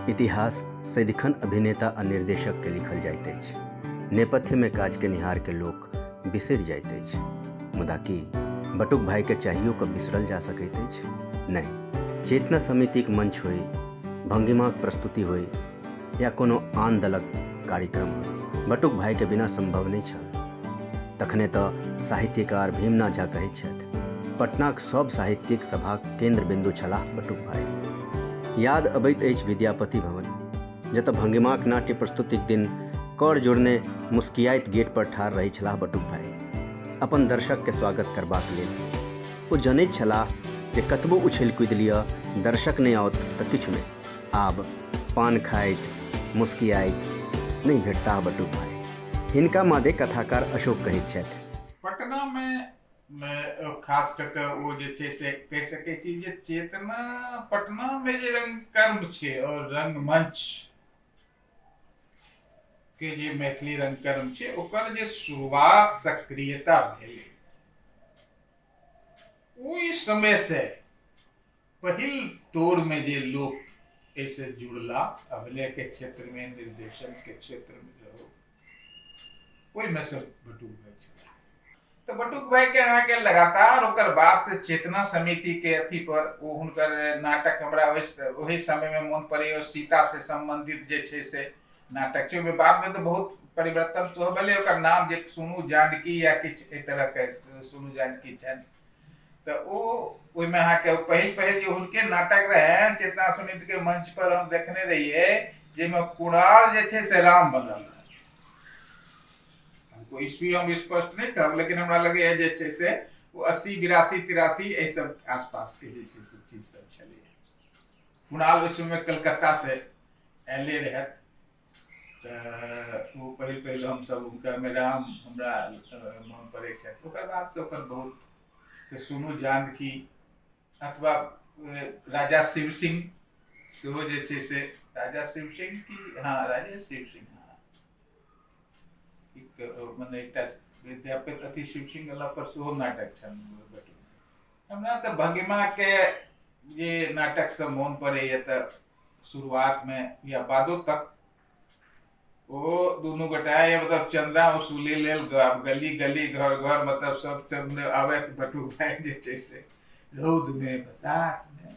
इतिहास सदिखन अभिनेता आ निर्देशक के लिखल जाइत अछि नेपथ्य में काज के निहार के लोक बिसर जाइत अछि मुदा की बटुक भाई के चाहियो के बिसरल जा सकैत अछि नहि चेतना समितिक मंच होय भंगिमाक प्रस्तुति होय या कोनो आन दलक कार्यक्रम बटुक भाइके बिना सम्भव नहि छल तखने तऽ साहित्यकार भीमना झा कहैत छथि पटनाक सभ साहित्यिक सभाक केन्द्र बिन्दु छलाह बटुक भाइ याद अबैत अछि विद्यापति भवन जतऽ भंगिमाक नाट्य प्रस्तुतिक दिन कर जोड़ने मुस्कियाइत गेट पर ठाढ़ रहै छलाह बटुक भाई अपन दर्शक के स्वागत करबाक लेल ओ जनैत छलाह जे कतबो उछल कूदि लिअ दर्शक नहि आओत तऽ किछु नहि आब पान खाइत मुस्कियाइत नहि भेटताह बटु भाय। हिनका मादे कथाकार अशोक कहैत छथि। पटना मे खास कऽ कऽ ओ जे छै से कहि सकै छी जे चेतना पटना मे जे रंगकर्म छै आओर रंगमंच के जे मैथिली रंगकर्म छै ओकर जे शुरुआत सक्रियता भेलै ओहि समय से पहिल दौर में जे लोक ऐसे जुड़ला अभिनय के क्षेत्र में निर्देशन के क्षेत्र में रहो ओहि में से बटुक भाई छला तो बटुक भाई के अहाँ के लगातार ओकर बाद से चेतना समिति के अथी पर ओ हुनकर नाटक हमरा ओहि ओहि समय में मन पड़े और सीता से संबंधित जे छै से नाटक छै ओहिमे बाद में तो बहुत परिवर्तन सेहो भेलै ओकर नाम जे सुनू जानकी या किछु एहि तरह के सुनू जानकी छनि तऽ ओ ओहिमे अहाँके पहिल पहिल जे हुनके नाटक रहनि चेतना समिति के मंच पर हम देखने रहियै जाहिमे कुणाल जे छै से राम बनल रहै हमको ईस्वी हम स्पष्ट नहि कहब लेकिन हमरा लगैए जे छै से ओ अस्सी बिरासी तिरासी एहि सब आसपासके जे छै से चीज सब छलैए कुणाल ओहि समय कलकत्तासँ अयले रहथि तऽ ओ पहिल पहिल हमसभ हुनकर मैदान हमरा मोन पड़ै छथि ओकर बादसँ ओकर बहुत तऽ सुनू जानकी अथवा राजा शिव सिंह सेहो जे छै से राजा शिव सिंह की हँ राजा शिव सिंह हँ मने एकटा विद्यापति अति शिव सिंह गेला पर सेहो नाटक छनि हमरा तऽ भंगिमाके जे नाटकसँ मोन पड़ैए तऽ शुरुआत में या बादो तक ओ दोनों गोटा ये मतलब चंदा वसूली लेल गली गली घर घर मतलब सब तब ने आवे तो बटू भाई जे छै से रौद में बसात में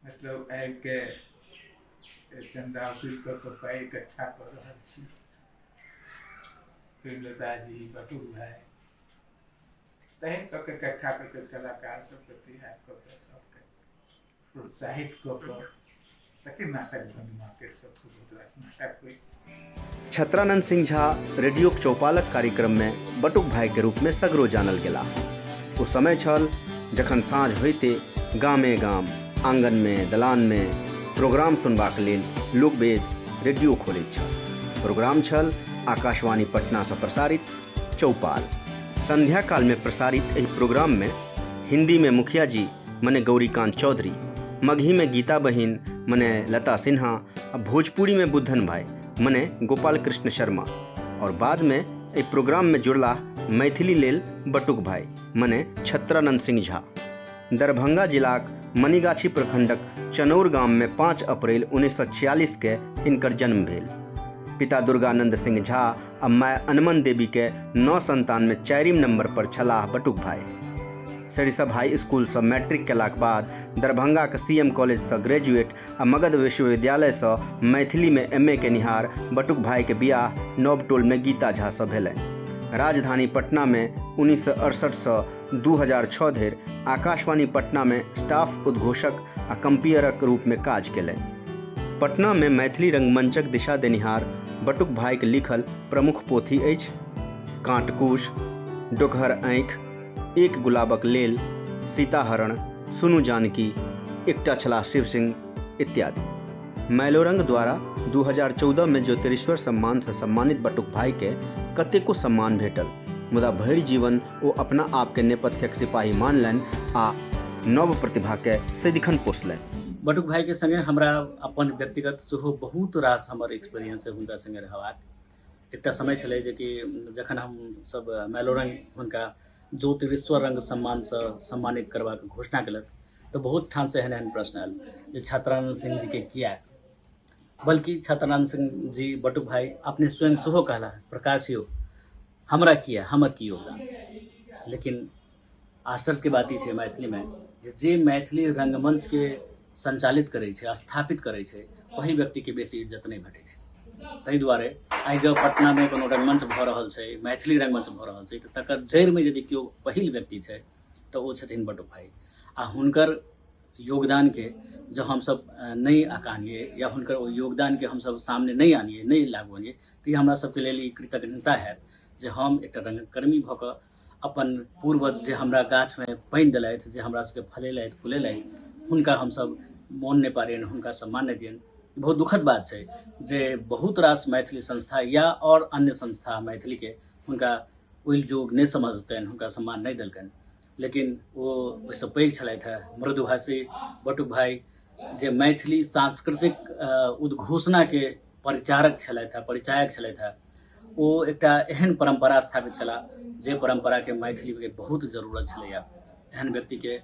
मतलब आबि के चंदा वसूल कर के पाई इकट्ठा कर रहल छी प्रेमलता जी बटू भाई तहन कऽ के इकट्ठा कऽ के कलाकार सब के तैयार कऽ के सब प्रोत्साहित कऽ कऽ ताकि नाटक ध्वनि मार्केट सब बहुत रास नाटक होइ छत्रानंद सिंह झा रेडियोक चौपालक कार्यक्रममे बटुक भाइके रूपमे सगरो जानल गेलाह ओ समय छल जखन साँझ होइते गामे गाम आङ्गनमे दलानमे प्रोग्राम सुनबाक लेल लोकवेद रेडियो खोलैत छल प्रोग्राम छल आकाशवाणी पटनासँ प्रसारित चौपाल संध्याकालमे प्रसारित एहि प्रोग्राममे हिन्दीमे मुखिया जी मने गौरीकांत चौधरी मगही में गीता बहिन मने लता सिन्हा आ भोजपुरी में बुद्धन भाई मने गोपाल कृष्ण शर्मा और बाद में एहि प्रोग्राम में जुड़ला मैथिली लेल बटुक भाई मने छत्रानंद सिंह झा दरभंगा जिलाक मणिगाछी प्रखंडक चनौर गाम में पाँच अप्रैल उन्नैस सए छियालीस के हिनकर जन्म भेल पिता दुर्गानंद सिंह झा आ माय अनमन देवी के नौ संतान में चारिम नंबर पर छलाह बटुक भाई सरिसब हाई स्कूल से मैट्रिक केलाक बाद दरभंगा के सीएम कॉलेज से ग्रेजुएट आ मगध विश्वविद्यालय से मैथिली में एमए के निहार बटुक भाई के बियाह नवटोल में गीता झा से भेलनि राजधानी पटना में उन्नीस सौ अड़सठ से 2006 धरि आकाशवाणी पटना में स्टाफ उद्घोषक आ कंपियरक रूप में काज केलनि पटना में मैथिली रंगमंचक दिशा देनिहार बटुक भाईक लिखल प्रमुख पोथी अछि कांटकूश डोकहर आँखि एक गुलाबक लेल सीताहरण सुनु जानकी एकटा छलाह शिव सिंह इत्यादि मैलोरंग द्वारा 2014 में ज्योतिरेश्वर सम्मान से सम्मानित बटुक भाई के कतेको सम्मान भेटल मुदा भरि जीवन ओ अपना आपके नेपथ्यक सिपाही मानलनि आ नव प्रतिभाके सदिखन पोसलनि बटुक भाईके सङ्गे हमरा अपन व्यक्तिगत सेहो बहुत रास हमर एक्सपीरियंस हुनका सङ्गे रहबाक एकटा समय छलै जे कि जखन हमसभ मैलोरंग हुनका ज्योतिरेश्वर रंग सम्मानसँ सम्मानित करबाक घोषणा केलक तऽ बहुत ठामसँ एहन एहन प्रश्न आयल जे छात्रानंद सिंह जीके किया बल्कि छात्रानंद सिंह जी बटुक भाई अपने स्वयं सेहो कहला प्रकाशियो हमरा किए हमर की योगदान लेकिन आश्चर्यके बात ई छै मैथिलीमे जे जे मैथिली रङ्गमञ्चके सञ्चालित करै छै स्थापित करै छै ओहि व्यक्तिके बेसी इज्जत नहि भेटै छै ताहि दुआरे आइ जब पटनामे कोनो रङ्गमञ्च भऽ रहल छै मैथिली रङ्गमञ्च भऽ रहल छै तऽ तकर जड़िमे यदि केओ पहिल व्यक्ति छै तऽ ओ छथिन बटुक भाइ आ हुनकर योगदान के जब हम सब अ, नहीं आकानिए या हुनकर ओ योगदान के हम सब सामने नहीं आनिए नहीं लागवनिए तऽ ई हमरा सबके लेल ई कृतज्ञता हैत जे हम एकटा रंगकर्मी भऽ कऽ अपन पूर्वज जे हमरा गाछमे पानि देलथि जे हमरा सबके फलेलथि फुलेलथि हुनका हमसब मोन नहि पारियनि हुनका सम्मान नहि दियनि ई बहुत दुखद बात छै जे बहुत रास मैथिली संस्था या आओर अन्य संस्था मैथिलीके हुनका ओहि जोग नहि समझलकनि हुनका सम्मान नहि देलकनि लेकिन ओ ओहिसँ पैघ छलथि हे मृदुभाषी बटुक भाई जे मैथिली सांस्कृतिक उद्घोषणाके परिचारक छलथि हे परिचायक छलथि हे ओ एकटा एहन परम्परा स्थापित कला जे परम्पराके मैथिलीके बहुत जरूरत छलैए एहन व्यक्तिके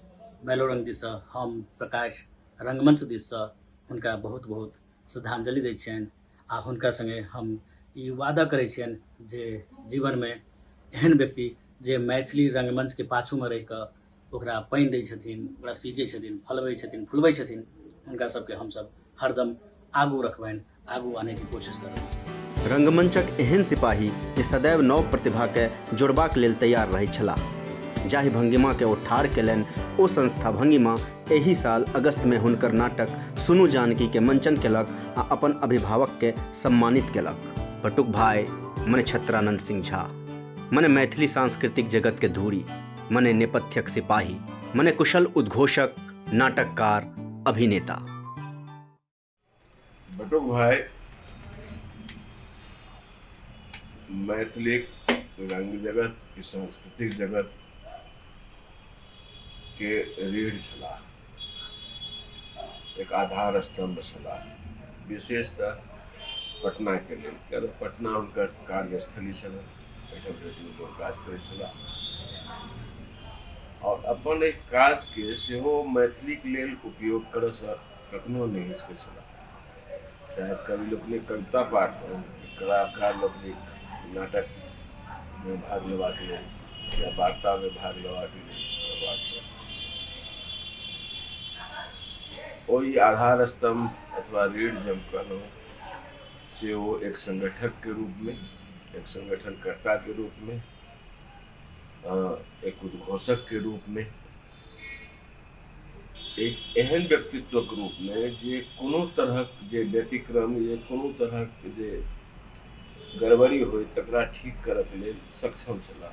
मेलोरन दिससँ हम प्रकाश रङ्गमञ्च दिससँ हुनका बहुत बहुत श्रद्धाञ्जलि दै छियनि आ हुनका संगे हम ई वादा करै छियनि जे जीवनमे एहन व्यक्ति जे मैथिली रङ्गमञ्चके पाछूमे रहि कऽ ओकरा पानि दै छथिन ओकरा सींचै छथिन फलबै छथिन फुलबै छथिन हुनका सभके हमसभ हरदम आगू रखबनि आगू आनेके कोशिश करबनि रंगमंचक एहन सिपाही जे सदैव नव प्रतिभाके जोड़बाक लेल तैयार रहैत छलाह जाहि भंगिमाके ओ ठाढ़ केलनि ओ संस्था भंगिमा एहि साल अगस्त में हुनकर नाटक सुनु जानकी के मंचन केलक आ अपन अभिभावक के सम्मानित केलक बटुक भाई मने छत्रानंद सिंह झा मने मैथिली सांस्कृतिक जगत के धूरी मने नेपथ्यक सिपाही मने कुशल उद्घोषक नाटककार अभिनेता बटुक भाई मैथिली रंग जगत की सांस्कृतिक जगत के रीढ़ छला एक आधार स्तंभ छला विशेषतः पटना के लिए क्या तो पटना उनका कार्यस्थली छला रेडियो काज कर छला और अपन एक काज के सेहो मैथिली के लिए उपयोग कर कखनो नहि हिचकै छलाह चाहे कवि लोकनि कविता पाठ हो कलाकार लोकनि नाटकमे भाग लेबाक लेल या वार्तामे भाग लेबाक लेल ओहि आधार स्तंभ अथवा रीढ़ जे हम कहलहुँ से ओ एक संगठकके रूपमे एक संगठनकर्ताके रूपमे एक उद्घोषकके रूपमे एक एहन व्यक्तित्वक रूपमे जे कोनो तरहक जे व्यतिक्रम या कोनो तरहक जे गड़बड़ी होय तकरा ठीक करऽके लेल सक्षम छलाह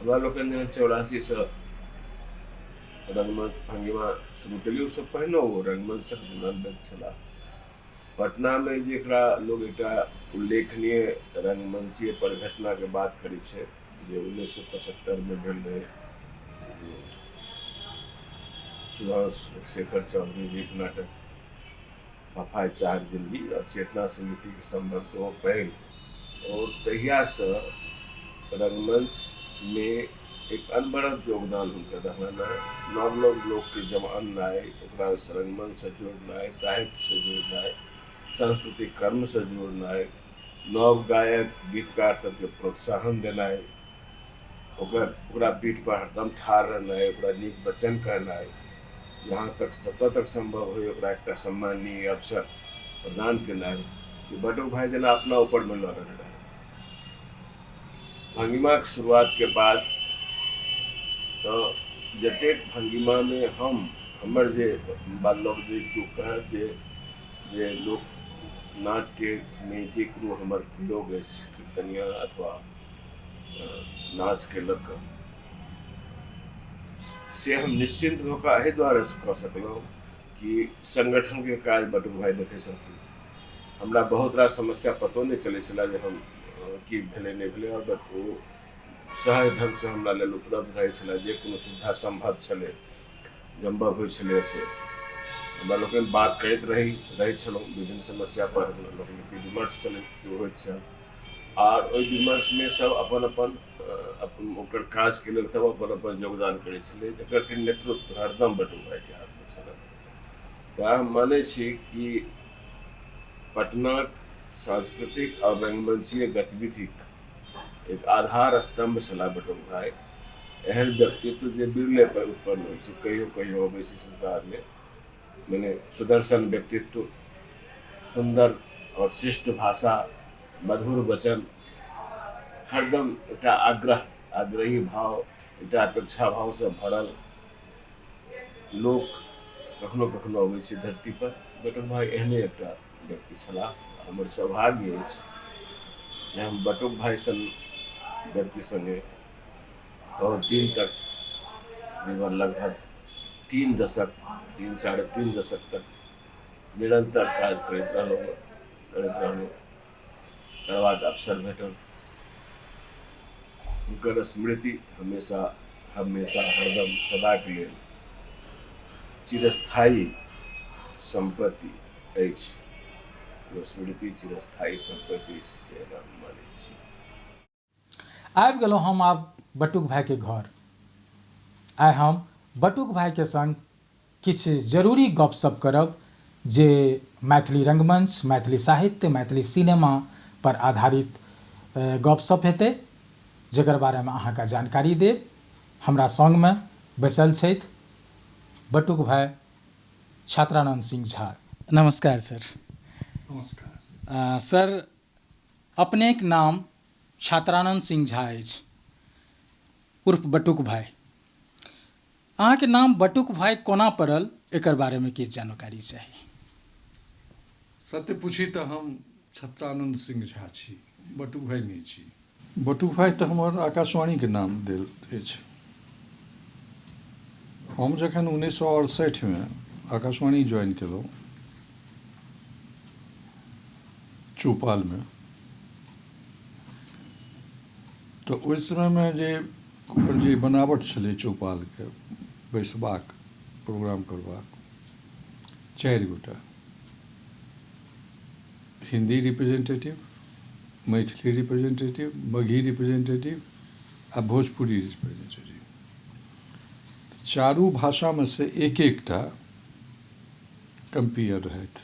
हमरा लोकनि जहन चौरासीसँ रंगमंच भंगिमा शुरू केलियै ओसभ पहिने ओ रंगमंचक दिवंगत छलाह पटनामे जेकरा लोग एकटा उल्लेखनीय रंगमंचीय परिघटनाके बात करै छै जे उन्नैस सए पचहत्तरिमे भेल रहै सुभाष शेखर चौधरी जी के नाटक पफाय चार दिल्ली और चेतना समिति के संबंध तो पैघ और तहिया से रंगमंच में एक अनबरत योगदान हुनकर रहना नव नव लोग के जब अननाय ओकरा रंगमंच से जोड़नाय साहित्य से जोड़नाय सांस्कृतिक कर्म से जोड़नाय नव गायक गीतकार सबके प्रोत्साहन देनाइ ओकर ओकरा पीठपर हरदम ठाढ़ रहनाइ ओकरा नीक वचन कहनाइ जहाँ तक जतऽ तक सम्भव होइ ओकरा एकटा सम्माननीय अवसर प्रदान केनाइ कि बटो भाइ जेना अपना ऊपरमे लऽ रहल रहै भंगिमाक शुरुआतके बाद तऽ जतेक भंगिमामे हम हमर जे बात लोक जे केओ कहत जे जे लोकनाट्यमे जे कोनो हमर प्रयोग अछि कीर्तनिया अथवा नाचके लऽ कऽ से हम निश्चिन्त भऽ कऽ एहि दुआरे कऽ सकलहुँ कि सङ्गठनके काज बटुक भाइ देखै छलखिन हमरा बहुत रास समस्या पतो नहि चलै छलए जे हम की भेलै नहि भेलै आओर ओ सहज ढङ्गसँ हमरा लेल उपलब्ध रहै छलए जे कोनो सुविधा सम्भव छलै जमबह होइ छलैए से हमरा लोकनि बात करैत रही रहै छलहुँ विभिन्न समस्यापर हमरा लोकनिके विमर्श चलैत होइत छल आर ओहि विमर्शमे सब अपन अपन अपन ओकर काजके लेल सब अपन अपन योगदान करै छलै जकर कि नेतृत्व हरदम बटू भाइके हाथमे छलै तऽ हम मानै छी कि पटनाक सांस्कृतिक आ रंगमंचीय गतिविधिक एक आधार स्तंभ छला बटुक भाई एहन व्यक्तित्व जे बिरले पर उत्पन्न होइ छै कहियो कहियो अबै छै संसारमे मने सुदर्शन व्यक्तित्व सुन्दर आओर शिष्ट भाषा मधुर वचन हरदम एकटा आग्रह आग्रही भाव एकटा अपेक्षा भावसँ भरल लोक कखनो कखनो अबै छै धरतीपर बटुक भाई एहने एकटा व्यक्ति छलाह हमर सौभाग्य अछि जे हम बटुक भाई सन व्यक्ति संगे बहुत दिन तक निवर लगभग तीन दशक तीन साढ़े तीन दशक तक निरंतर काज करते रहलो करते रहलो तकर बाद अवसर भेटल उनकर स्मृति हमेशा हमेशा हरदम सदा के लिए चिरस्थायी संपत्ति अछि ओ स्मृति चिरस्थायी सम्पत्ति से हम मानै छी आबि गेलहुँ हम आब बटुक भायके घर आइ हम बटुक भायके सङ्ग किछु जरूरी गपशप करब जे मैथिली रङ्गमञ्च मैथिली साहित्य मैथिली सिनेमा पर आधारित गपशप हेतै जकर बारेमे अहाँके जानकारी देब हमरा सङ्गमे बैसल छथि बटुक भाय छात्रानंद सिंह झा। नमस्कार सर। नमस्कार। सर अपनेक नाम छात्रानंद सिंह झा अछि उर्फ बटुक भाई। अहाँके नाम बटुक भाई कोना पड़ल एकर बारे में किछु जानकारी चाही। सत्य पूछी तऽ हम छत्रानंद सिंह झा छी, बटुक भाई नहि छी। बटुभाइ तँ हमर आकाशवाणीक नाम देल अछि। हम जखन उन्नैस सए अड़सठि मे आकाशवाणी ज्वाइन केलहुँ चौपाल मे तँ ओहि समय मे जे ओकर जे बनावट छलै चौपाल के बैसबाक प्रोग्राम करबाक चारि गोटा Hindi representative Maithili representative Magahi representative आ भोजपुरी रिप्रेजेंटेटिव चारू भाषामे से एक एकटा कम्पियर रहथि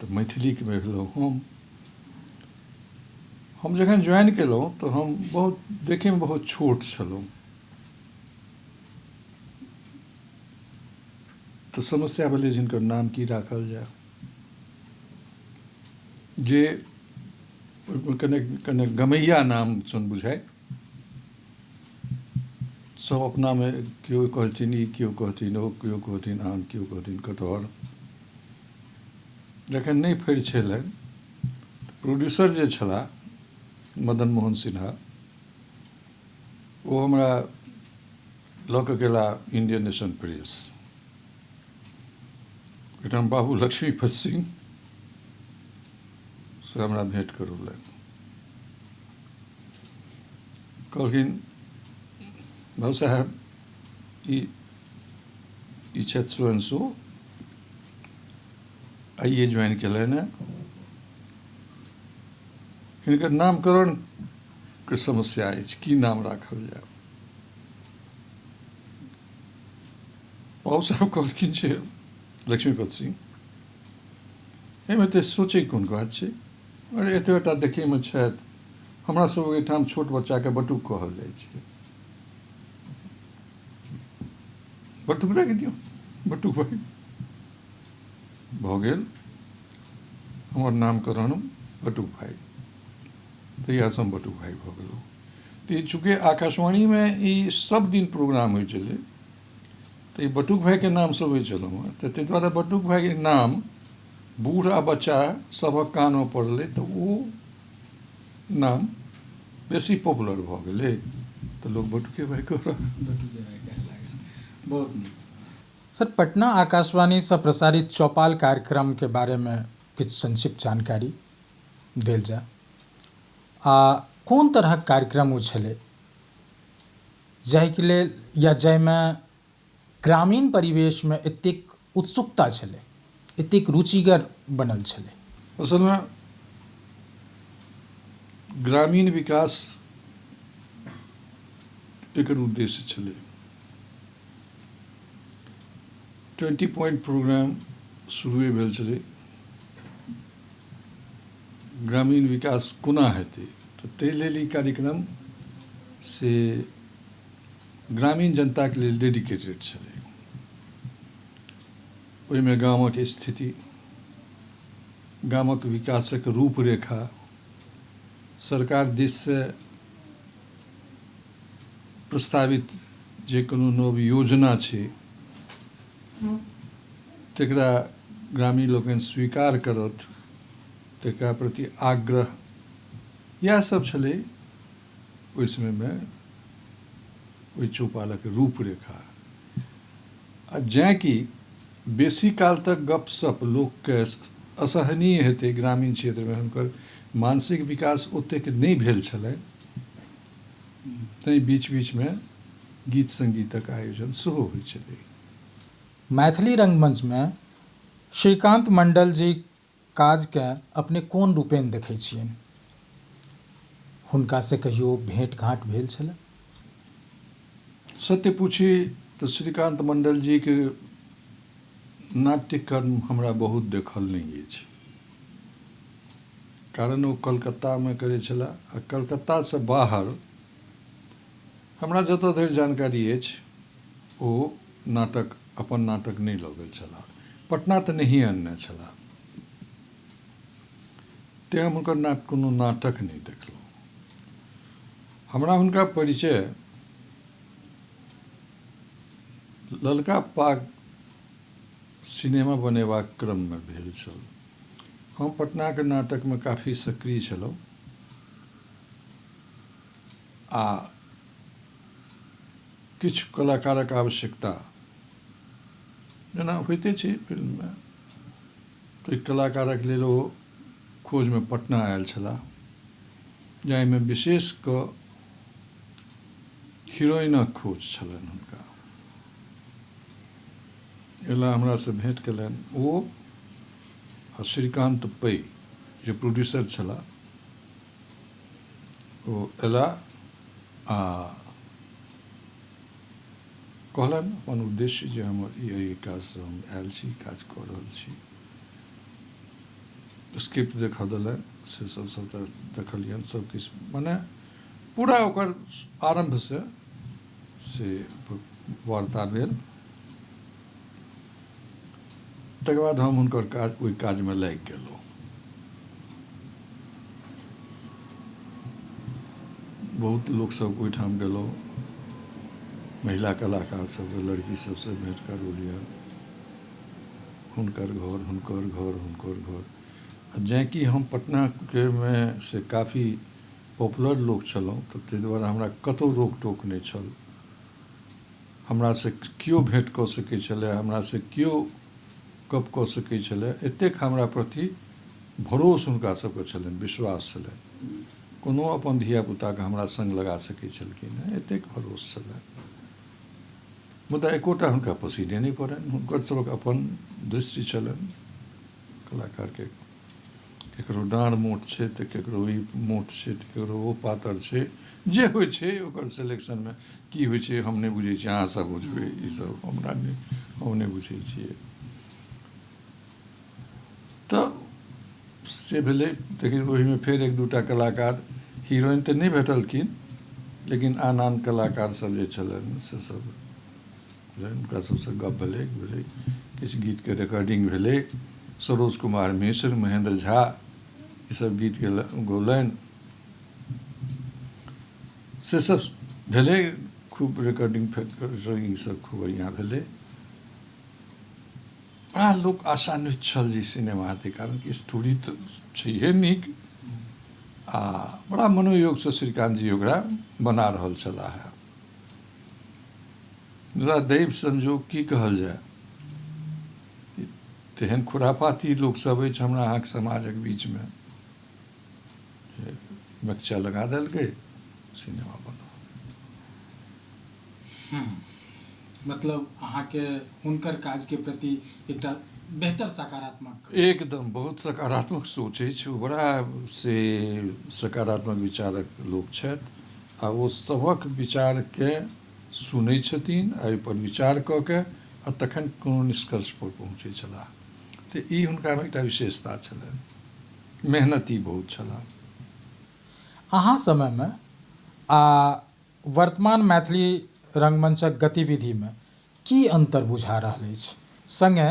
तऽ मैथिलीके भेलहुँ हम हम जखन ज्वाइन केलहुँ तऽ हम बहुत देखैमे बहुत छोट छलहुँ तऽ समस्या भेलै जिनकर नाम की राखल जाय जे कने कने गमैया नाम सन बुझाय सब अपना में केओ कहथिन ई केओ कहथिन ओ केओ कहथिन आन केओ कहथिन कटहर जखन नहि फड़ि छलै प्रोड्यूसर जे छलाह मदन मोहन सिन्हा ओ हमरा लऽ कऽ गेला इंडियन नेशन प्रेस एहिठाम बाबू लक्ष्मीपत सिंह से हमरा भेंट करौलनि कहलखिन बाबू साहेब ई ई छथि स्वयं सो आइए ज्वाइन कयलनि हेँ हिनकर नामकरणके समस्या अछि की नाम राखल जाय पावसा कॉलकिनचे लक्ष्मीपत सिंह एहिमे तऽ सोचैके कोन बात छै अरे एतबेटा देखैमे छथि हमरा सब ओहिठाम छोट बच्चाके बटुक कहल जाइ छै बटुक राखि दियौ बटुक भऽ गेल हमर नामकरण बटुक भाइ तहियासँ हम बटुक भाइ भऽ गेलहुँ तऽ चूँकि आकाशवाणीमे ई सभ दिन प्रोग्राम होइ छलै तऽ ई बटुक भायके नामसँ अबै छलहुँ हेँ तऽ ताहि दुआरे बटुक भायके नाम बूढ़ आ बच्चा सभक कानमे पड़लै तऽ ओ नाम बेसी पॉपुलर भऽ गेलै तऽ लोक बटुके भाय कहऽ लागल सर पटना आकाशवाणीसँ प्रसारित चौपाल कार्यक्रमके बारेमे किछु संक्षिप्त जानकारी देल जाय आ कोन तरहक कार्यक्रम ओ छलै जाहिक लेल या जाहिमे ग्रामीण परिवेशमे एतेक उत्सुकता छलै एतेक रुचिगर बनल छलै असलमे ग्रामीण विकास एकर उद्देश्य छलै ट्वेंटी पॉइंट प्रोग्राम शुरुए भेल छलै ग्रामीण विकास कोना हेतै तऽ ताहि लेल ई कार्यक्रम से ग्रामीण जनताके लेल डेडिकेटेड छलै ओहिमे गामक स्थिति गामक विकासक रूपरेखा सरकार दिससँ प्रस्तावित जे कोनो नव योजना छै तकरा ग्रामीण लोकनि स्वीकार करत तकरा प्रति आग्रह इएह सब छलै ओहि समयमे ओहि चौपालक रूपरेखा आ जैँ कि बेसी काल तक गपशप लोकके असहनीय हेतै ग्रामीण क्षेत्रमे हुनकर मानसिक विकास ओतेक नहि भेल छलनि तैँ बीच बीचमे गीत संगीतक आयोजन सेहो होइत छलै मैथिली रंगमंच मे श्रीकांत मंडल जीक काज केँ अपने कोन रूपेण देखैत छियनि? हुनका सँ कहियो भेंट-घांट भेल छलनि? सत्य पूछी तँ श्रीकांत मंडल जीक नाट्यकर्म हमरा बहुत देखल नहि अछि। कारण ओ कलकत्ता मे करैत छलाह आ कलकत्ता सँ बाहर। हमरा जतऽ धरि जानकारी अछि ओ नाटक अपन नाटक नहि लऽ गेल छलाह। पटना तँ नहिये अनने छलाह। तेँ हम हुनकर नाटक कोनो नाटक नहि देखलहुँ। हमरा हुनका परिचय ललका पाग सिनेमा बनेबाक क्रममे भेल छल। हम पटनाक नाटकमे काफी सक्रिय छलहुँ। आ किछु कलाकारक आवश्यकता जेना होइते छै फिल्ममे ताहि कलाकारक लेल ओ खोजमे पटना आयल छलाह जाहिमे विशेष कऽ हीरोइनक खोज छलनि हुनका एला हमरासँ भेँट कयलनि ओ आ श्रीकान्त पै जे प्रोड्यूसर छलाह ओ एला आ कहलनि अपन उद्देश्य जे हमर ई एहि काजसँ हम आयल छी काज कऽ रहल छी स्क्रिप्ट देखऽ देलनि से सब सबटा देखलियनि सब किछु मने पूरा ओकर आरम्भसँ से वार्ता भेल तकर बाद हम हुनकर काज ओहि काजमे लागि गेलहुँ बहुत लोकसभ ओहिठाम गेलहुँ महिला कलाकार सभसँ लड़की सभसँ भेँट करू लिअ हुनकर घर हुनकर घर हुनकर घर जैँ कि हम पटनाके मे से काफी पॉपुलर लोक छलहुँ तऽ ताहि दुआरे हमरा कतहु रोक टोक नहि छल हमरासँ कियो भेंट कऽ सकैत छलए, हमरासँ कियो गप्प कऽ सकैत छलए, एतेक हमरा प्रति भरोस हुनका सभकेँ छलनि, विश्वास छलनि। कोनो अपन धिया-पुताकेँ हमरा संग लगा सकैत छलखिन हेँ, एतेक भरोस छलनि। मुदा एकोटा हुनका पसीने नहि पड़नि। हुनकर सभक अपन दृष्टि छलनि कलाकारकेँ। केकरो डाँड़ मोट छै तऽ केकरो ई मोट छै तऽ केकरो ओ पातर छै जे होइ छै ओकर सेलेक्शनमे की होइ छै हम नहि बुझै छियै अहाँसभ बुझबै ई सभ हमरा नहि हम नहि बुझै छियै तऽ से भेलै लेकिन ओहिमे फेर एक दू टा कलाकार हीरोइन तऽ नहि भेटलखिन लेकिन आन आन कलाकारसभ जे छलनि से सभ हुनका सभसँ गप भेलैक भेलैक किछु गीतके रेकॉर्डिंग भेलैक सरोज कुमार मिश्र महेन्द्र झा ई सभ गीत गेलनि गौलनि से सभ भेलै खूब रेकॉर्डिंग फेकॉर्डिंग सभ खूब बढ़िआँ भेलै बड़ा लोक आशान्वित छल जे सिनेमा हेतै कारण कि स्टोरी तऽ छैहे नीक आ बड़ा मनोयोगसँ श्रीकान्त जी ओकरा बना रहल छलाह हेँ मुदा दैव संजोग की कहल जाय? तेहन खुराफाती लोक सब अछि हमरा अहाँक समाजक बीच मे जे मकचा लगा देलकै सिनेमा बनल। हम्म। मतलब अहाँ के हुनकर काज के प्रति एकटा बेहतर सकारात्मक। एकदम बहुत सकारात्मक सोच अछि ओ बड़ा से सकारात्मक विचारक लोक छथि। आ ओ सभक विचारकेँ सुनैत छथिन आ ओहि पर विचार कऽ कऽ आ तखन कोनो निष्कर्ष पर पहुँचैत छलाह। तऽ ई हुनकामे एकटा विशेषता छलनि। मेहनती बहुत छलाह। अहाँ समयमे आ वर्तमान मैथिली रंगमंचक गतिविधिमे की अन्तर बुझा रहल अछि? संगे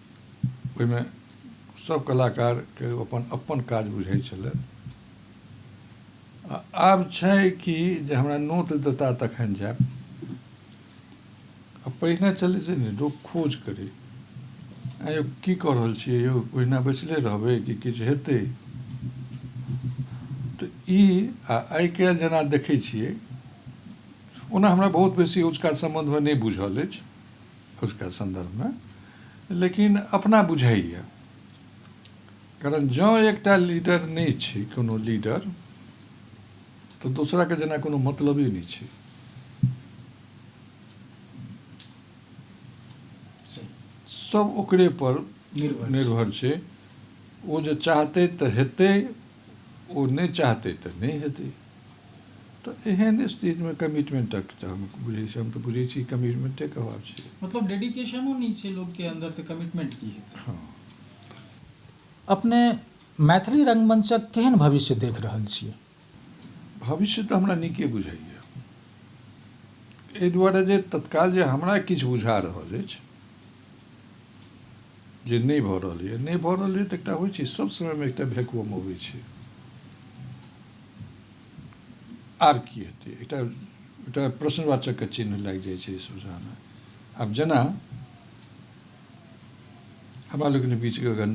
ओहिमे सभ कलाकारके ओ अपन अपन काज बुझै छलै आ आब छै कि जे हमरा नोत देता तखन जायब आ पहिने छलै से नहि लोक खोज करै आँय यौ की कऽ रहल छियै यौ ओहिना बैसले रहबै कि किछु हेतै तऽ ई आ आइ काल्हि जेना देखै छियै ओना हमरा बहुत बेसी ओजुका सम्बन्धमे नहि बुझल अछि खुदके सन्दर्भमे लेकिन अपना बुझैए कारण जँ एकटा लीडर नहि छै कोनो लीडर तऽ दोसराके जेना कोनो मतलबे नहि छै सब ओकरे पर निर्भर छै ओ जे चाहतै तऽ हेतै ओ नहि चाहतै तऽ नहि हेतै तऽ एहन स्थितिमे कमिटमेंटक तऽ हम बुझै छी हम तऽ बुझै छी कमिटमेंटेके अभाव छै मतलब डेडिकेशनो नहि छै लोकके अन्दर तऽ कमिटमेंट की हेतै हँ अपने मैथिली रंगमंचक केहन भविष्य देख रहल छियै भविष्य तऽ हमरा नीके बुझाइए एहि दुआरे जे तत्काल जे हमरा किछु बुझा रहल अछि जे नहि भऽ रहल यए नहि भऽ रहल यए तऽ एकटा होइ छै सभ समयमे एकटा भैकुअम अबै छै आब की हेतै एकटा एकटा प्रश्नवाचकके चिन्ह लागि जाइ छै सोझाँमे आब जेना हमरा लोकनि बीच गगन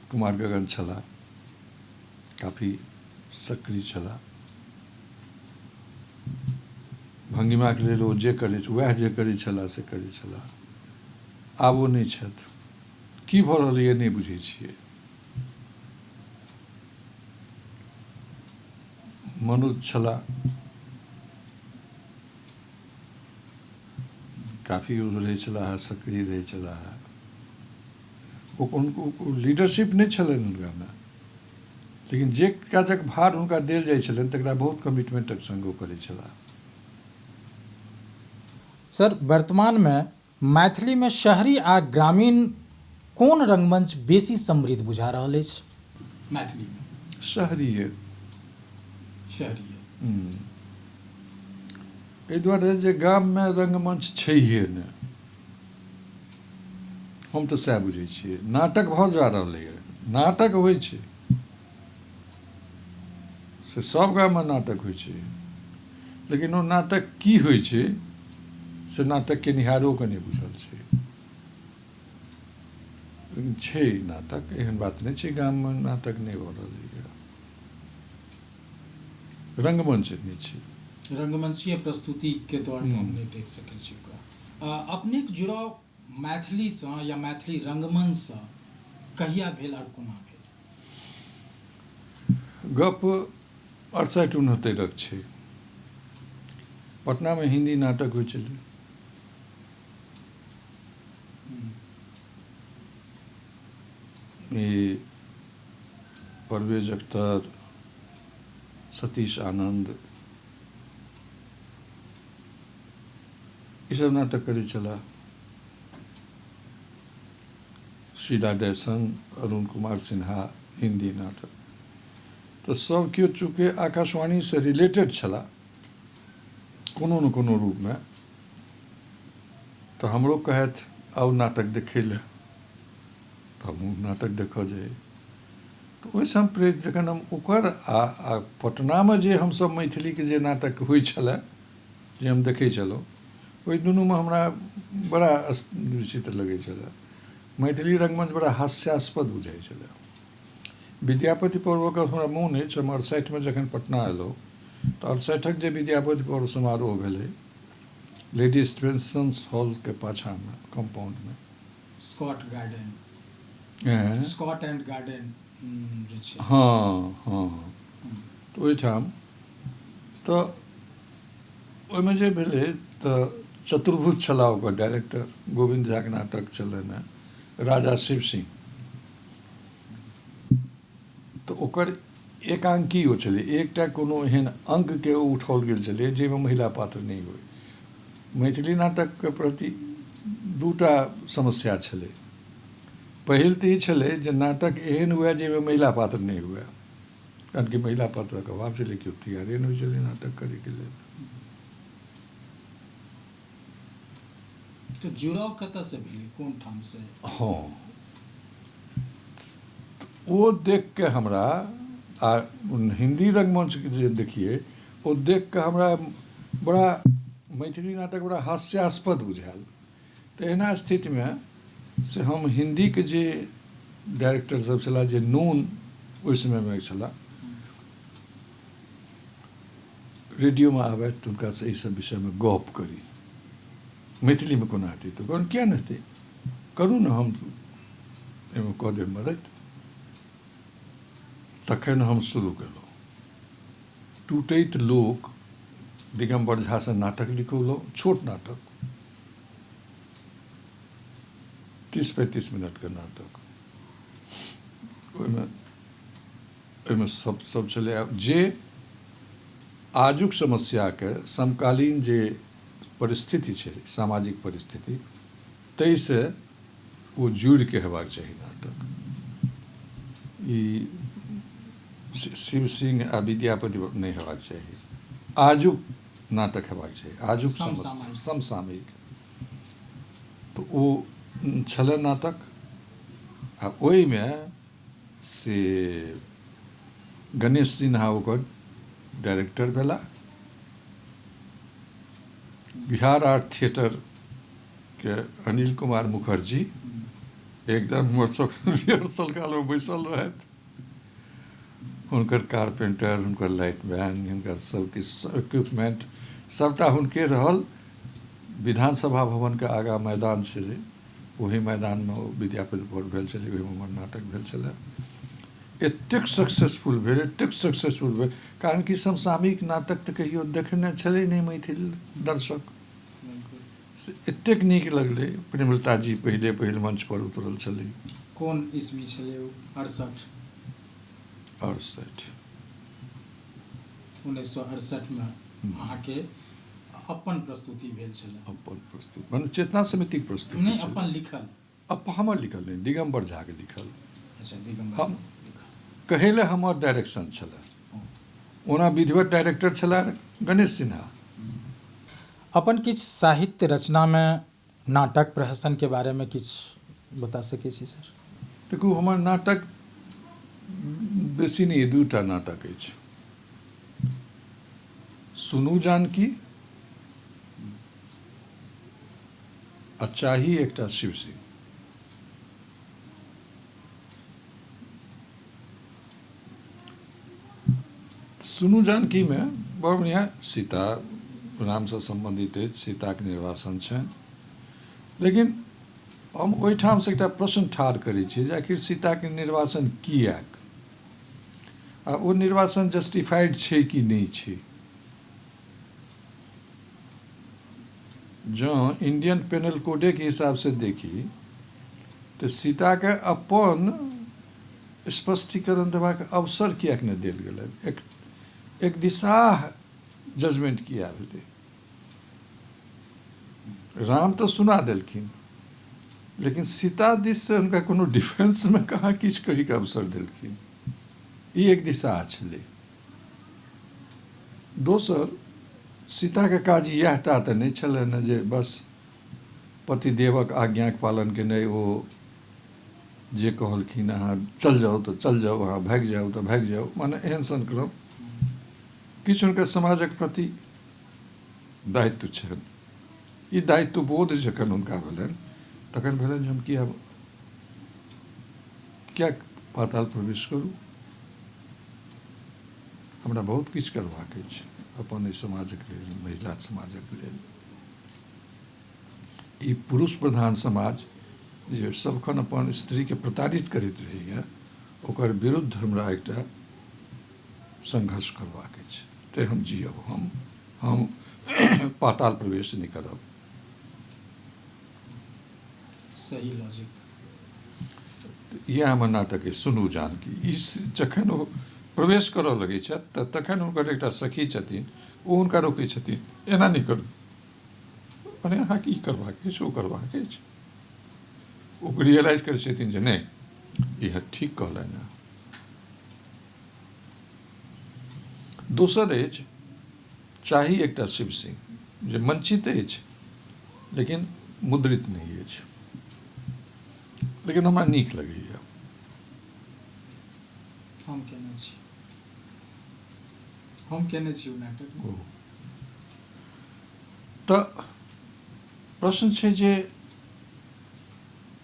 कुमार गगन छलाह काफी सक्रिय छलाह भंगिमाके लेल ओ जे करै उएह जे करै छलाह से करै छलाह आब ओ नहि छथि की भऽ रहलैए नहि बुझै छियै मनुज छलाह। काफी यूज रहै छलाह सक्रिय रहै छलाह ओ कोनो लीडरशिप नहि छलनि हुनकामे लेकिन जे काजक भार हुनका देल जाइ छलनि तकरा बहुत कमिटमेंटक संग ओ करै छलाह सर वर्तमानमे मैथिली मे शहरी आ ग्रामीण कोन रंगमंच बेसी समृद्ध बुझा रहल अछि? मैथिली मे। शहरीय। शहरीय। एहि दुआरे जे गाम मे रंगमंच छैहे ने। हम त सएह बुझै छियै। नाटक भ जा रहलैए। नाटक होइ छै। से सब गाममे नाटक होइ छै लेकिन ओ नाटक की होइ छै से नाटक केनिहारोके नहि बुझल छै लेकिन छै नाटक एहन बात नहि छै गाममे नाटक नहि भऽ रहलैए रङ्गमञ्च नहि छै रङ्गमञ्चीय प्रस्तुतिके द्वारा हम नहि देख सकै छी ओकरा अपनेके जुड़ाव मैथिलीसँ या मैथिली रङ्गमञ्चसँ कहिया भेल आओर कोना भेल गप्प अड़सठि उनहत्तरिक छैक। पटनामे हिन्दी नाटक होइत छलै। ई परवेज अख्तर, सतीश आनन्द ई सब नाटक करैत छलाह। शीला जयसन, अरुण कुमार सिन्हा, हिन्दी नाटक। तऽ सभ केओ चूँकि आकाशवाणीसँ रिलेटेड छलाह कोनो ने कोनो रूपमे तऽ हमरो कहथि आउ नाटक देखै लए तऽ हमहूँ नाटक देखऽ जाइ। तऽ ओहिसँ हम प्रेरित जखन हम ओकर आ पटनामे जे हमसभ मैथिलीके जे नाटक होइ छलाह जे हम देखै छलहुँ ओहि दुनूमे हमरा बड़ा विचित्र लगै छलए मैथिली रंगमंच बड़ा हास्यास्पद बुझाइ छलए विद्यापति पर्वके हमरा मोन अछि हम अड़सठिमे जखन पटना एलहुँ तऽ अड़सठिक जे विद्यापति पर्व समारोह भेलै लेडी स्पेंसन्स हॉलके पाछाँमे कम्पाउंडमे Scott garden Scott and garden हँ हँ तऽ ओहिठाम तऽ ओहिमे जे भेलै तऽ चतुर्भुज छलाह ओकर डायरेक्टर गोविन्द झाके नाटक छलनि हेँ राजा शिव सिंह तऽ ओकर एकांकी ओ छलै एकटा कोनो एहन अङ्गके ओ उठाओल गेल छलै जाहिमे महिला पात्र नहि होइ मैथिली नाटकके प्रति दूटा समस्या छलै पहिल तऽ ई छलै जे नाटक एहन हुए जाहिमे महिला पात्र नहि हुए जानकी महिला पात्रक अभाव छलै केओ तैयारे नहि होइ छलै नाटक करैके लेल तऽ जुड़ाव कतऽसँ भेलै कोन ठामसँ हँ ओ देख कऽ हमरा आ हिन्दी रङ्गमञ्चके जे देखियै ओ देख कऽ हमरा बड़ा मैथिली नाटक बड़ा हास्यास्पद बुझायल तहिना स्थितिमे से हम हिन्दीके जे डाइरेक्टर सब छलाह जे नून ओहि समयमे छलाह रेडियोमे आबथि तऽ हुनकासँ एहि सब विषयमे गप करी मैथिलीमे कोना हेतै तऽ कहलहुँ किए नहि हेतै करू ने हम एहिमे कऽ देब मदद तखन हम शुरू केलहुँ टूटैत लोक दिगम्बर झासँ नाटक लिखौलहुँ छोट नाटक तीस पैंतीस मिनटके नाटक ओहिमे ओहिमे सब सब छलै आब जे आजुक समस्याके समकालीन जे परिस्थिति छै सामाजिक परिस्थिति ताहिसँ ओ जुड़िके हेबाक चाही नाटक ई शि- शिव सिंह आ विद्यापति नहि हेबाक चाही आजुक नाटक हेबाक चाही आजुक समसामयिक समसामयिक तऽ ओ छलै नाटक आ ओहिमे से गणेश सिन्हा ओकर डायरेक्टर भेला बिहार आर्ट थिएटरके अनिल कुमार मुखर्जी एकदम हमर सभके रिहर्सल कालमे बैसल रहथि हुनकर कारपेंटर हुनकर लाइट मैन हिनका सबके इक्विपमेंट सबटा हुनके रहल विधानसभा भवनके आगाँ मैदान छलै ओही मैदानमे ओ विद्यापति भोट भेल छलै ओहिमे हमर नाटक भेल छलै एतेक सक्सेसफुल भेल एतेक सक्सेसफुल भेल कारण कि समसामयिक नाटक तऽ कहियो देखने छलै नहि मैथिल दर्शक से एतेक नीक लगलै प्रेमलता जी पहिले पहिल मंच पर उतरल छलै कोन ईस्वी छलै ओ अड़सठि अड़सठि उन्नैस सए अड़सठिमे अहाँके अपन प्रस्तुति भेल छलै अपन प्रस्तुति मने चेतना समितिक प्रस्तुति नहि छलै अपन लिखल अप्पा हमर लिखल नहि दिगम्बर झा के लिखल अच्छा दिगम्बर हम कहै लए हमर डायरेक्शन छलै ओना विधिवत डायरेक्टर छलाह गणेश सिन्हा अपन किछु साहित्य रचना मे नाटक प्रहसन के बारे मे किछु बता सकै छी सर देखू हमर नाटक बेसी नहि दू टा नाटक अछि सुनू जानकी आ चाही एकटा शिवसिंह। सुनू जानकीमे बड़ बढ़िआँ सीता रामसँ सम्बन्धित अछि सीताके निर्वासन छनि लेकिन हम ओहिठामसँ एकटा प्रश्न ठाढ़ करै छी जे आखिर सीताके निर्वासन किएक आ ओ निर्वासन जस्टिफाइड छै कि नहि छै जँ इंडियन पेनल कोडेक हिसाबसँ देखी तँ सीताकेँ अपन स्पष्टीकरण देबाक अवसर किएक ने देल गेलैन? एकदिशाह जजमेंट किए भेलै? राम तँ सुना देलखिन, लेकिन सीता दिससँ हुनका कोनो डिफेंसमे कहाँ किछु कहैक अवसर देलखिन। ई एकदिशाह छेलै। दोसर, सीताक काज इएह टा तँ नहि छलैन जे बस पतिदेवक आज्ञाक पालन केनाइ। ओ जे कहलखिन अहाँ चल जाउ तँ चल जाउ, अहाँ भागि जाउ तँ भागि जाउ, माने एहन सन क्रम। किछु हुनका समाजक प्रति दायित्व छैन। ई दायित्वबोध जखन हुनका भेलैन तखन भेलैन जे हम किए। किएक पाताल प्रवेश करू? हमरा बहुत किछु करबाक अछि अपन एहि समाजक लेल, महिला समाजक लेल। ई पुरुष प्रधान समाज जे सभखन अपन स्त्रीकेँ प्रताड़ित करैत रहैए ओकर विरुद्ध हमरा एकटा संघर्ष करबाक अछि। तँए हम जीयब। हम, हम पाताल प्रवेश नहि करब। सही लॉजिक इएह हमर नाटक अछि सुनू जानकी ई जखन ओ प्रवेश करऽ लगै छथि तऽ तखन हुनकर एकटा सखी छथिन ओ हुनका रोकै छथिन एना नहि करू मने अहाँके ई करबाक अछि ओ करबाक अछि ओ रियलाइज करै छथिन जे नहि इएह ठीक कहलनि हँ दोसर अछि चाही एकटा शिव सिंह जे मंचित अछि लेकिन मुद्रित नहि अछि लेकिन हमरा नीक लगैए हम केने छी हम केने छी ओ नाटक ओ तऽ प्रश्न छै जे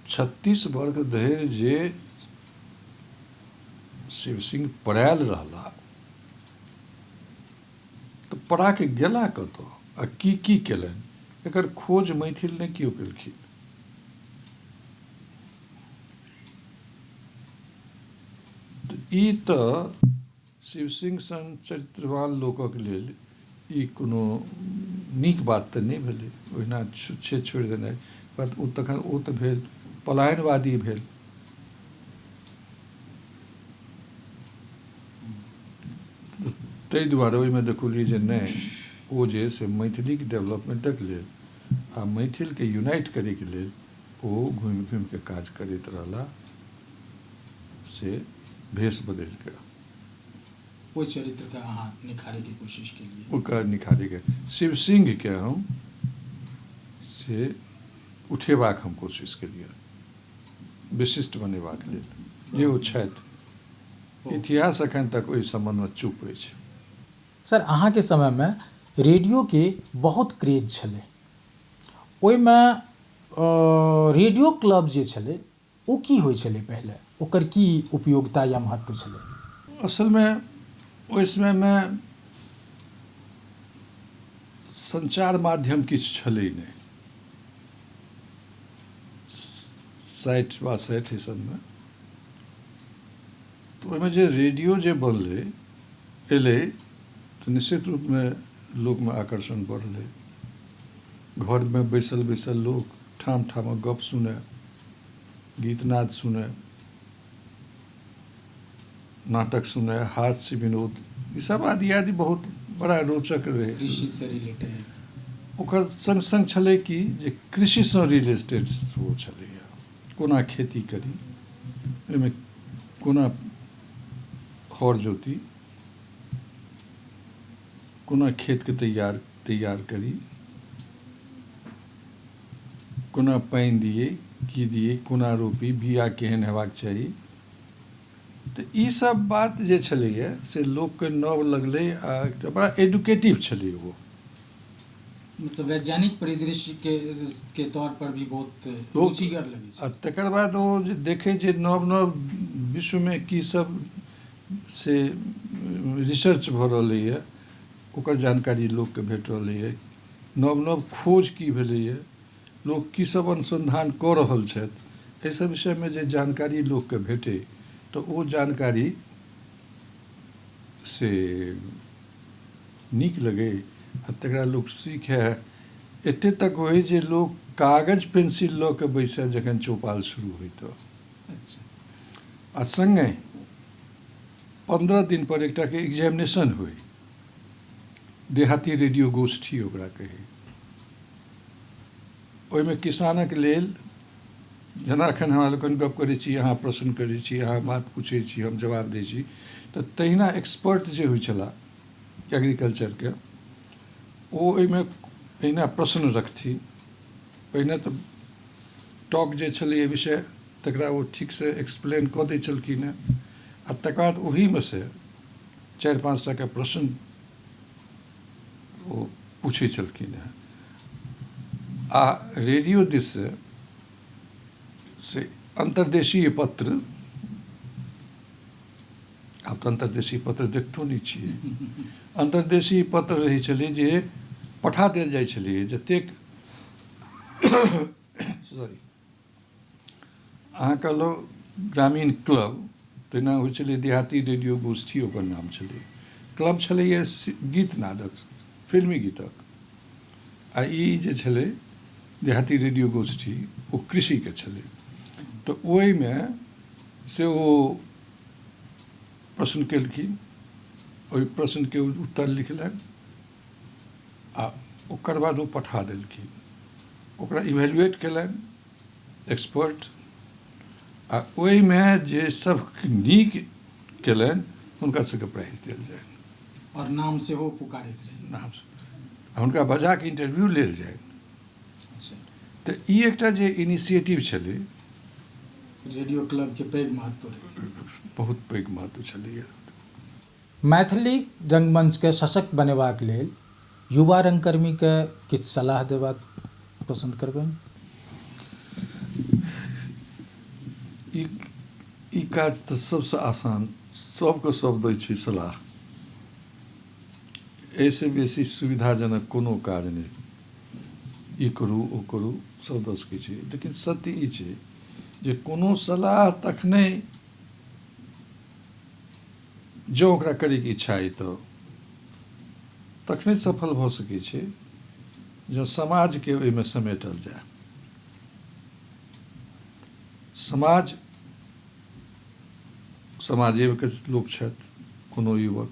छत्तीस वर्ग धरि जे शिव सिंह पड़ायल रहला त पड़ा के गेला कतऽ आ की की केलनि एकर खोज मैथिल ने कियो केलखिन। त ई त शिवसिंह सन चरित्रवान लोकक लेल ई कोनो नीक बात त नहि भेलै ओहिना छुच्छे छोड़ि देनाइ। कहत ओ तखन ओ त भेल पलायनवादी भेल। ताहि दुआरे ओहिमे देखौलियै जे नहि ओ जे से मैथिलीक डेवलपमेंटक लेल आ मैथिलके यूनाइट करैके लेल ओ घुमि घुमिके काज करैत रहला से भेष बदलि कऽ ओहि चरित्रके अहाँ निखारैके कोशिश केलियै ओकर निखारैके शिव सिंहके हम से उठेबाक हम कोशिश केलियै विशिष्ट बनेबाक लेल जे ओ छथि। इतिहास अखन तक ओहि सम्बन्ध मे चुप अछि। सर अहाँ के समय मे रेडियो के बहुत क्रेज छलै। ओहि मे रेडियो क्लब जे छलै ओ की होइ छलै पहिले? ओकर की उपयोगिता या महत्व छलै? असल मे ओहि समय मे संचार माध्यम किछु छलै नहि। साठि बासठि एहि सभमे तऽ ओहिमे जे रेडियो जे बनलै एलै तऽ निश्चित रूपमे लोकमे आकर्षण बढ़लै घरमे बैसल बैसल लोक ठाम ठामक गप्प सुनय गीतनाद सुनय नाटक सुनै हास्य विनोद ई सब आदि आदि बहुत बड़ा रोचक रहै कृषिसँ रिलेटेड ओकर सङ्ग सङ्ग छलै कि जे कृषिसँ रिलेटेड सेहो छलैए कोना खेती करी ओहिमे कोना हर जोती कोना खेतके तैयार तैयार करी कोना पानि दियै की दियै कोना रोपी बीया केहन हेबाक चाही तऽ ई सब बात जे छलैए से लोकके नव लगलै आ एकटा बड़ा एडुकेटिव छलै ओ मतलब वैज्ञानिक परिदृश्य के के तौर पर भी बहुत रुचिगर लगै छै आ तकर बाद ओ जे देखै जे नव नव विश्वमे की सब से रिसर्च भऽ रहलैए ओकर जानकारी लोकके भेट रहलै अइ नव नव खोज की भेलै अइ लोक की सब अनुसन्धान कऽ रहल छथि एहि सब विषयमे जे जानकारी लोकके भेटै तऽ ओ जानकारी से नीक लगै आ तकरा लोक सीखै एते तक होइ जे लोक कागज पेंसिल लऽ कऽ बैसै जखन चौपाल शुरू होइ तऽ अच्छा आ सङ्गे पन्द्रह दिन पर एकटा के एग्जामिनेशन होइ। देहाती रेडियो गोष्ठी ओकरा कही। ओहि मे किसानक लेल जेना अखन हमरा लोकनि गप करै छी, अहाँ प्रश्न करै छी, अहाँ बात पूछै छी, हम जवाब दै छी त तहिना एक्सपर्ट जे होइ छलाह एग्रीकल्चर के ओ ओहि मे एहिना प्रश्न रखथिन। पहिने त टॉक जे छलैया विषय तकरा ओ ठीक से एक्सप्लेन क दै छलखिन हैं। आ तकर बाद ओहिमे से चारि पाँच टा के प्रश्न ओ पूछै छलखिन हेँ आ रेडियो दिस से से अन्तर्देशीय पत्र आब तऽ अन्तर्देशीय पत्र देखतो नहि छियै अन्तर्देशीय पत्र रहै छलै जे पठा देल जाइ छलै जतेक सॉरी अहाँ कहलहुँ ग्रामीण क्लब तहिना होइ छलै देहाती रेडियो गोष्ठी ओकर नाम छलै क्लब छलैए गीत नादक फिल्मी गीतक आ ई जे छलै देहाती रेडियो गोष्ठी ओ कृषिके छलै तऽ ओहिमे से ओ प्रश्न केलखिन ओहि प्रश्नके उत्तर लिखलनि आ ओकर बाद ओ पठा देलखिन ओकरा इवेलुएट कयलनि एक्सपर्ट आ ओहिमे जे सब नीक कयलनि हुनका सबके प्राइज देल जाय आओर नाम सेहो पुकारैत रहै नाम हुनका बजाके इंटरव्यू लेल जाय अच्छा। तऽ ई एकटा जे इनिशिएटिव छलै रेडियो क्लबके पैघ महत्व रहै बहुत पैघ महत्व छलैए मैथिली रंगमंच केँ सशक्त बनेबाक लेल युवा रंगकर्मी केँ किछु सलाह देबाक पसंद करबैन। ई काज त सबसँ आसान, सब केँ सब दै छी सलाह। एहि सँ बेसी सुविधाजनक कोनो काज नहि। ई करू, ओ करू, सब द सकै छी। लेकिन सत्य ई छै जे कोनो सलाह तखने। जँ ओकरा करैक इच्छा अइ तँ तखने सफल भऽ सकै छै जँ समाजकेँ ओइमे समेटल जाए। समाज समाजेक लोक छथि। कोनो युवक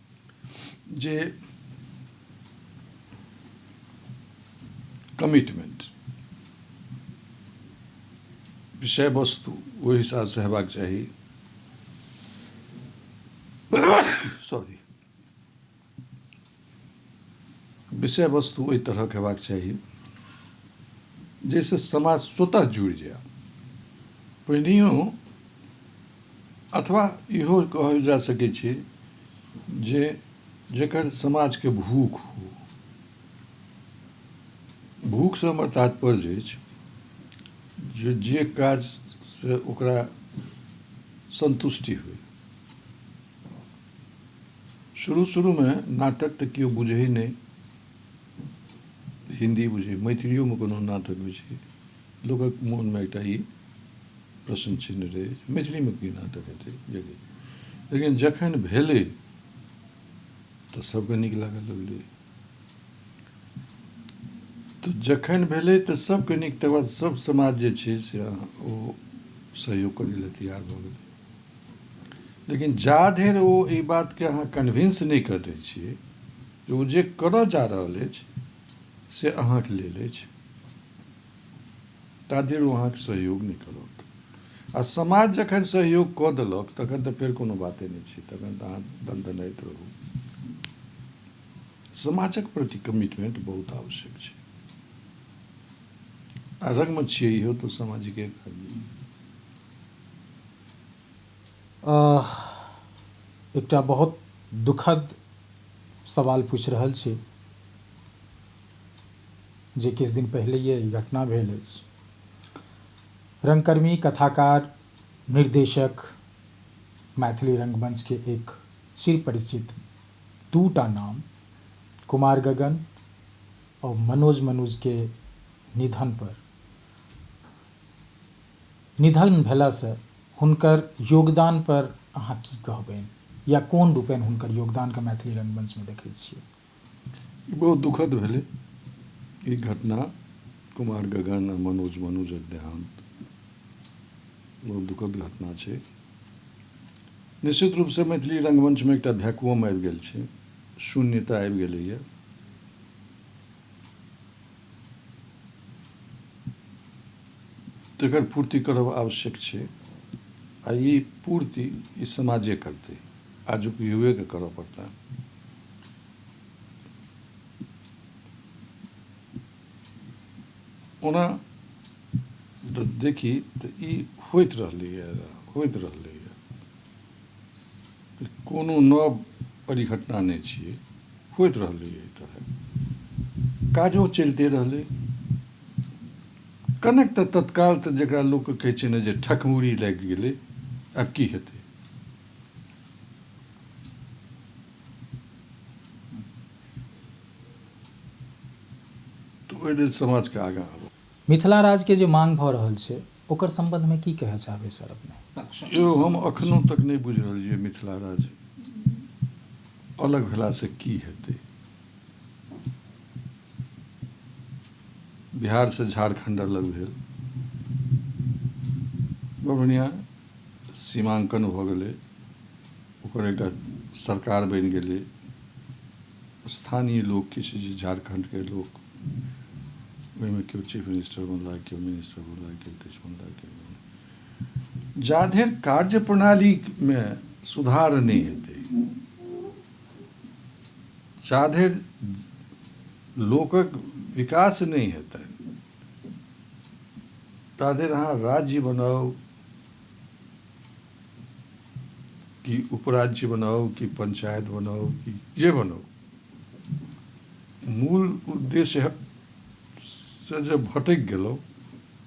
जे कमिटमेंट विषय वस्तु ओहि हिसाबसँ हेबाक चाही सॉरी विषय वस्तु ओहि तरहक हेबाक चाही जाहिसँ समाज स्वतः जुड़ि जाय पहिनहिओ अथवा इहो कहल जा सकै छै जे जेकर समाज के भूख हो भूख से हमर तात्पर्य अछि जे जे काज से ओकरा संतुष्टि होय शुरू शुरू में नाटक तऽ केओ बुझै नहि हिन्दी बुझै मैथिलियो में कोनो नाटक बुझै लोकक मोन मे एकटा ई प्रश्न चिन्ह रहै जे मैथिली मे की नाटक हेतै यदि लेकिन जखन भेलै तऽ सभके नीक लागऽ लगलै तऽ जखन भेलै तऽ सभके नीक तकर बाद सभ समाज जे छै से ओ सहयोग करै लए तैयार भऽ गेलै लेकिन जा धरि ओ एहि बातके अहाँ कन्विन्स नहि कऽ दै छियै जे ओ जे करऽ जा रहल अछि से अहाँके लेल अछि ताधरि ओ अहाँक सहयोग नहि करत। आ समाज जखन सहयोग कऽ देलक तखन तँ फेर कोनो बाते नहि छै। तखन तँ अहाँ दनदनाइत रहू। समाजक प्रति कमिटमेंट बहुत आवश्यक छै। आ रंगमे छियै इहो तँ सामाजिके काज। अह एकटा बहुत दुखद सवाल पूछि रहल छी। जे किछु दिन पहिलहिये ई घटना भेल अछि। रंगकर्मी, कथाकार, निर्देशक, मैथिली रंगमंच के एक चिरपरिचित दू टा नाम कुमार गगन और मनोज मनुज के निधन पर निधन भेला से हुनकर योगदान पर अहाँ की कहबैन या कोन रूपेन हुनकर योगदान के मैथिली रंगमंच में देखै छियैन? ई बहुत दुखद भेलै ई घटना कुमार गगन आ मनोज मनोजक देहान्त बहुत दुखद घटना छै निश्चित रूपसँ मैथिली रङ्गमञ्चमे एकटा भ्याकुअम आबि गेल छै शून्यता आबि गेलैए तेकर पूर्ति करब आवश्यक छै आ ई पूर्ति ई समाजे करतै। आजुक युवेकेँ करऽ पड़तैन। ओना जँ देखी तँ ई होइत रहलैए, होइत रहलैए। ई कोनो नव परिघटना नहि छियै। होइत रहलैए एहि तरहेँ। काजो चलिते रहलै। कनक तँ तत्काल तँ जकरा लोक कहै छै ने जे ठकमुरी लागि गेलै, आब की हेतै? तँ ओहि लेल समाजकेँ आगाँ आबऽ। मिथिला राजकेँ जे मांग भऽ रहल छै ओकर संबंधमे की कहए चाहबै सर अपने? यौ हम अखनो तक नहि बुझि रहल छी जे मिथिला राज अलग भेलासँ की हेतै? बिहार से झारखंड अलग भेल बड़ बढ़िया सीमांकन भ गेलै ओकर एकटा सरकार बनि गेलै स्थानीय लोक किछु जे झारखंड के लोक ओहिमे केओ चीफ मिनिस्टर बनला केओ मिनिस्टर बनला केओ किछु बनला केओ बनला जा धरि कार्यप्रणालीमे सुधार नहि हेतै जाधैर लोकक विकास नहि हेतैन ताधैर अहाँ राज्य बनाउ कि उपराज्य बनाउ कि पंचायत बनाउ कि जे बनाउ मूल उद्देश्य से जब भटकि गेलहुँ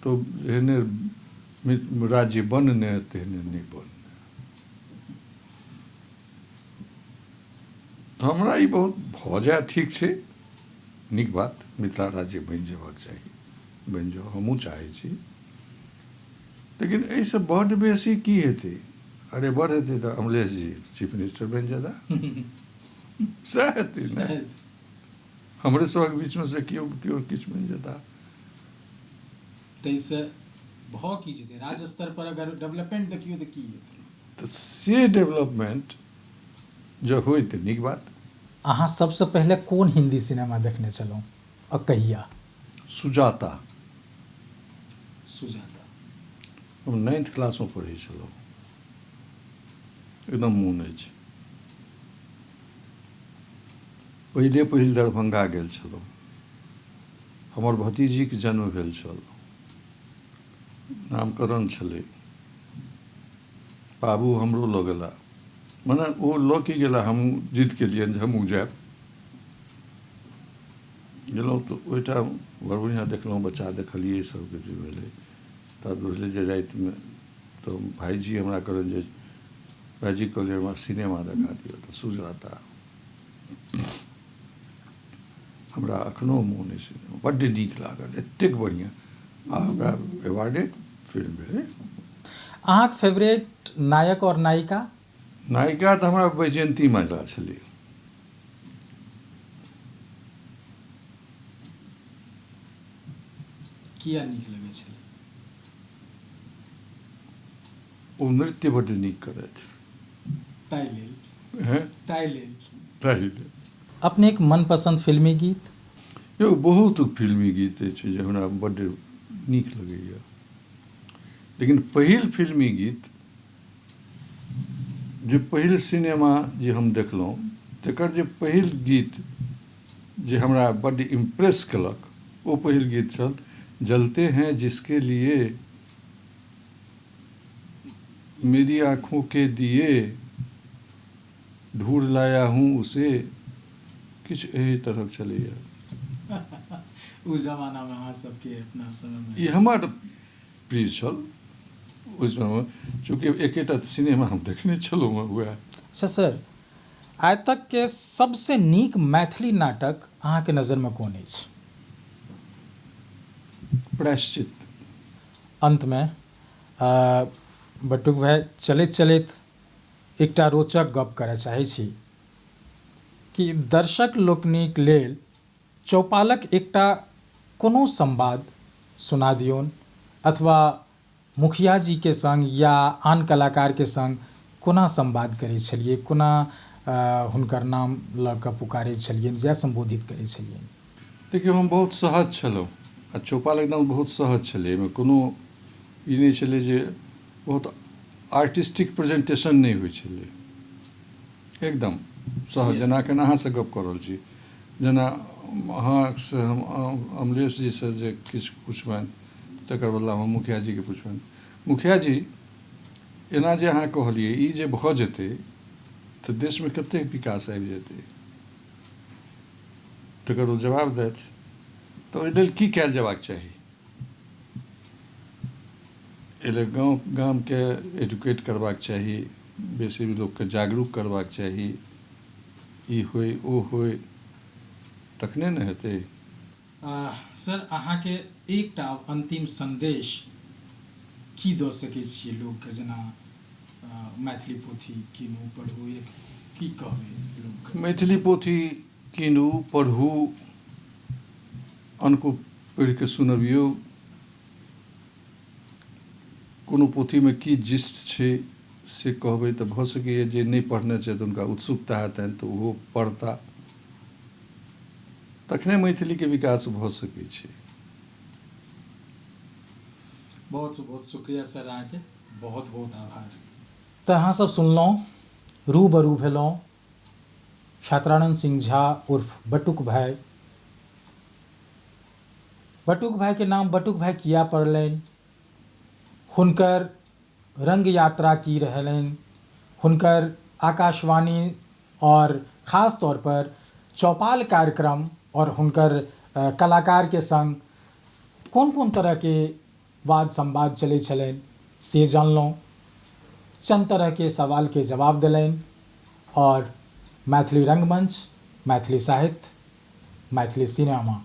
तऽ जेहने राज्य बनने तेहने नहि बनने हमरा ई बहुत भऽ जाय ठीक छै नीक बात मिथिला राज्य बनि जयबाक चाही बनि जाउ हमहूँ चाहै छी लेकिन एहिसँ बड्ड बेसी की हेतै अरे बड़ हेतै तऽ अमलेश जी चीफ मिनिस्टर बनि जेता सएह हेतै ने हमरे सभक बीचमे से केओ केओ किछु बनि जेता ताहिसँ भऽ की जेतै राज्य स्तर पर अगर डेवलपमेंट देखियौ तऽ की हेतै त से डेवलपमेंट जँ होइ त नीक बात। अहाँ सबसँ पहिले कोन हिन्दी सिनेमा देखने छलहुँ आ कहिया? सुजाता। सुजाता। हम नाइन्थ क्लासमे पढ़ै छलहुँ। एकदम मोन अछि। पहिले पहिल दरभंगा गेल छलहुँ। हमर भतीजीक जन्म भेल छल। नामकरण छलै। बाबू हमरो लऽ गेला। मने ओ लऽ की गेला हमहूँ जिद केलियनि जे हमहूँ जायब। गेलहुँ तऽ ओहिठाम बड़ बढ़िआँ देखलहुँ बच्चा देखलियै सभ किछु भेलै। तब बुझलियै जे रातिमे तऽ भायजी हमरा कहलनि जे भायजीकेँ कहलियनि हमरा सिनेमा देखा दिअ तऽ सुजाता। हमरा अखनो मोन अछि सिनेमा बड्ड नीक लागल एतेक बढ़िऑं आ हमरा अवार्डे फिल्म भेलै अहाँके फेवरेट नायक आओर नायिका नायिका तऽ हमरा वैजयन्ती माला छलै किया नीक लगै छलै ओ नृत्य बड्ड नीक करथि ताहि लेल हैं ताहि लेल ताहि लेल अपनेक मनपसन्द फिल्मी गीत यौ बहुत फिल्मी गीत अछि जे हमरा बड्ड नीक लगैए लेकिन पहिल फिल्मी गीत जे पहिल सिनेमा जे हम देखलहुँ तकर जे पहिल गीत जे हमरा बड्ड इम्प्रेस केलक ओ पहिल गीत छल जलते हैं जिसके लिए मेरी आँखों के दिए ढूंढ लाया हूँ उसे किछु एहि तरह चलैए ओ जमानामे अहाँ सबके अपना समयमे ई हमर प्रिय छल ओहि समयमे चूँकि एकेटा सिनेमा हम देखने छलहुँ हँ उएह अच्छा सर आइ तकके सबसँ नीक मैथिली नाटक अहाँके नजरिमे कोन अछि प्रायश्चित। अन्तमे बटुक भाय चलैत चलैत एकटा रोचक गप्प करय चाहैत छी कि दर्शक लोकनिक लेल चौपालक एकटा कोनो संवाद सुना दिऔन अथवा मुखिया जी के संग या आन कलाकार के संग कोना संवाद करै छलियै? कोना हुनकर नाम लऽ कऽ पुकारै छलियनि या संबोधित करै छलियनि? देखियौ हम बहुत सहज छलहुँ आ चौपाल एकदम बहुत सहज छलै। एहिमे कोनो ई नहि छलै जे बहुत आर्टिस्टिक प्रेजेंटेशन नहि होइ छलै। एकदम सहज जेना अखन अहाँ सँ गप्प कऽ रहल छी। जेना अहाँ सँ हम अमलेश जी सँ जे किछु पुछबनि। तकर बदला हम मुखिया जी के पुछबनि। मुखिया जी, एना जे अहाँ कहलियै, ई जे भऽ जेतै तऽ देश मे कतेक विकास आबि जेतै? तकर ओ जवाब दैथ। तऽ ओहि लेल की कयल जेबाक चाही? एहि लेल गाँव, गाम के एडुकेट करबाक चाही, बेसी लोक के जागरूक करबाक चाही। ई होइ, ओ होइ, तखने ने हेतै। आह सर अहाँ के एकटा आब अंतिम संदेश की द सके छिए लोग के जेना मैथिली पोथी कीनू पढू एक की कहबे लोग के। मैथिली पोथी कीनू पढू अनको पढि के सुनबियो। कोनो पोथीमे की जिस्ट छै से कहबै तऽ भऽ सकैए जे नहि पढ़ने छथि हुनका उत्सुकता हेतनि तऽ ओहो पढ़ता तखने मैथिलीके विकास भऽ सकै छै बहुत बहुत शुक्रिया सर अहाँके बहुत बहुत आभार तऽ अहाँसभ सुनलहुँ रूबरू भेलहुँ छात्रानन्द सिंह झा उर्फ बटुक भाय। बटुक भाय के नाम बटुक भाय किया पड़लैन? हुनकर रंग यात्रा की रहलैन? हुनकर आकाशवाणी और खास तौर पर चौपाल कार्यक्रम और हुनकर कलाकार के संग कोन-कोन तरह के वाद संवाद चलै छलैन से जानलौं। चन्द तरह के सवाल के जवाब देलैन और मैथिली रंगमंच, मैथिली साहित्य, मैथिली सिनेमा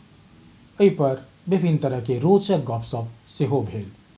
ऐ पर विभिन्न तरह के रोचक गप-सप सेहो भेल।